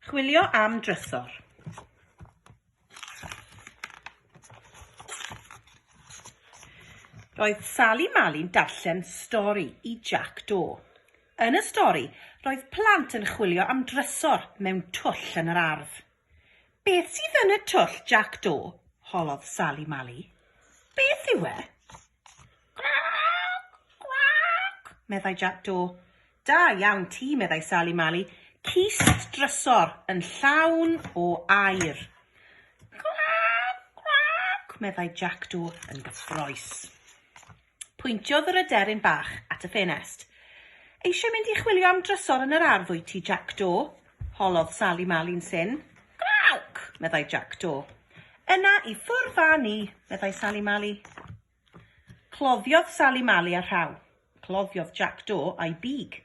Chwilio am drysor. Roedd Sali Mali'n darllen stori i Jac Do. Yn y stori, roedd plant yn chwilio am drysor mewn twll yn yr ardd. Beth sydd yn y twll, Jac Do? holodd Sali Mali. Beth yw e? Gwrac, gwrac, meddai Jac Do. Da iawn ti, meddai Sali Mali, cys drysor yn llawn o air. Gwrac, gwrac, meddai Jac Do yn gyffroes. Pwyntiodd yr aderyn bach at y ffenest. Eisiau mynd i chwilio am drysor yn yr ardd wyt ti, Jac Do? holodd Sali Mali'n syn. Gwawc! meddai Jac Do. Yna i ffwrdd â ni, meddai Sali Mali. Cloddiodd Sali Mali a rhaw. Cloddiodd Jac Do a'i big.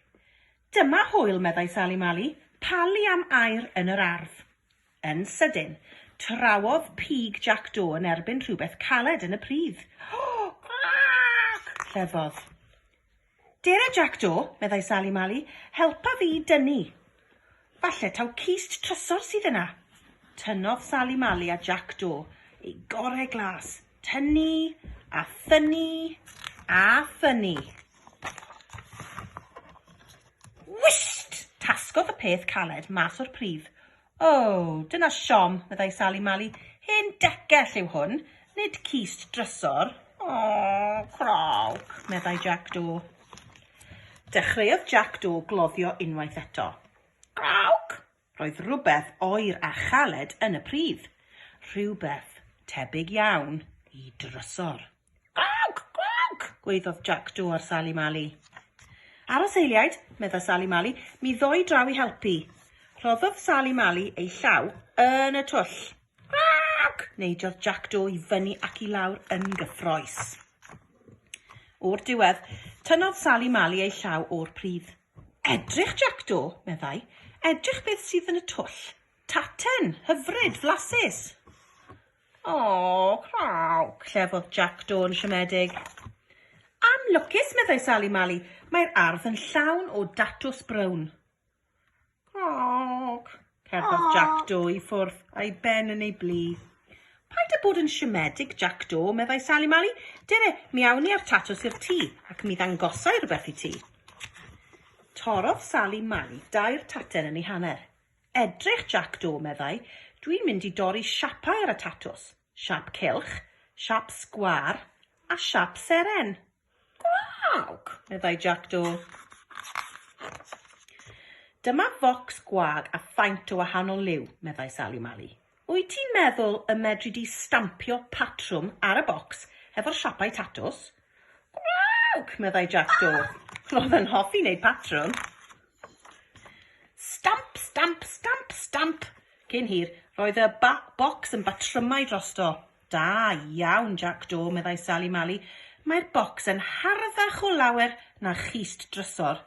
Dyma hwyl, meddai Sali Mali, palu am aer yn yr ardd. Yn sydyn, trawodd pig Jac Do yn erbyn rhywbeth caled yn y pridd. Crac! llefodd. Dere Jac Do, meddai Sali Mali, helpa fi i dynnu. Falle taw cist trysor sydd yna. Tynnodd Sali Mali a Jac Do ei gorau glas. Tynnu, a thynnu, a thynnu. Wist! Tasgodd y peth caled mas o'r pridd. O, dyna siom, meddai Sali Mali. Hen decell yw hwn, nid cist drysor. O, crawc, meddai Jac Do. Dechreuodd Jac Do gloddio unwaith eto. Crawc! Roedd rhywbeth oer a chaled yn y pridd. Rhywbeth tebyg iawn i drysor. Gwawc! Gwawc! gwaeddodd Jac Joe ar Sali Mali. Aros eiliaid, medda Sali Mali, mi ddoi draw i helpu. Rhoddodd Sali Mali ei llaw yn y twll. Gwawc! Neidiodd Jac Joe i fyny ac i lawr yn gyffroes. O'r diwedd, tynnodd Sali Mali ei llaw o'r pridd. Edrych, Jac Joe, meddai. Edrych beth sydd yn y twll. Taten, hyfryd, flasus. Aww, craw! clefodd Jac Dôn siomedig. Anlwcus, meddai Sali Mali, mae'r ardd yn llawn o datws brown. Craw! cerddodd Jac Do i ffwrdd a'i ben yn ei blu. Paid â bod yn siomedig, Jac Do, meddai Sali Mali. Dere, mi awn ni â'r tatws i'r tŷ, ac mi ddangosai rhywbeth i ti. Torodd Sali Mali dair taten yn ei hanner. Edrych Jac Do, meddai, dwi'n mynd i dorri siapau ar y tatws, siap cylch, siap sgwâr a siap seren. Gwag! meddai Jac Do. Dyma focs gwag a faint o wahanol liw, meddai Sali Mali. Wyt ti'n meddwl y medri di stampio patrwm ar y bocs hefo'r siapau tatws? Gwrrwg! meddai Jac Do. Roedd yn hoffi wneud patrwm. Stamp, stamp, stamp, stamp! Cyn hir, roedd y ba bocs yn batrymau drosto. Da iawn, Jac Do, meddai Sali Mali. Mae'r bocs yn harddach o lawer na chist drysor.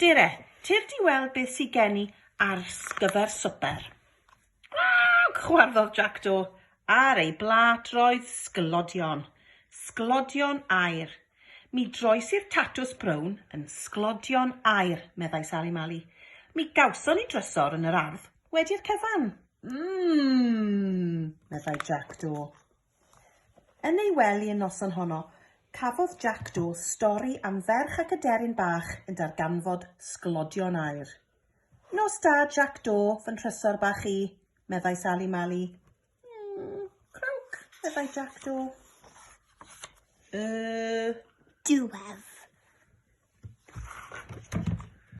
Dere, tir di weld beth sydd gen i ar gyfer swper. Gwag! chwarddodd Jackdo ar ei blât roedd sglodion, sglodion aer. Mi droes i'r tatws brown yn sglodion aer, meddai Sali Mali. Mi gawson ni drysor yn yr ardd wedi'r cyfan. Mmm! meddai Jackdo. Yn ei wely y noson honno, cafodd Jackdo stori am ferch ac aderyn bach yn darganfod sglodion aer. Nos da Jac Do fy nhrysor bach i, meddai Sali Mali. Mm, crwnc, meddai Jac Do. Yy... Diwedd.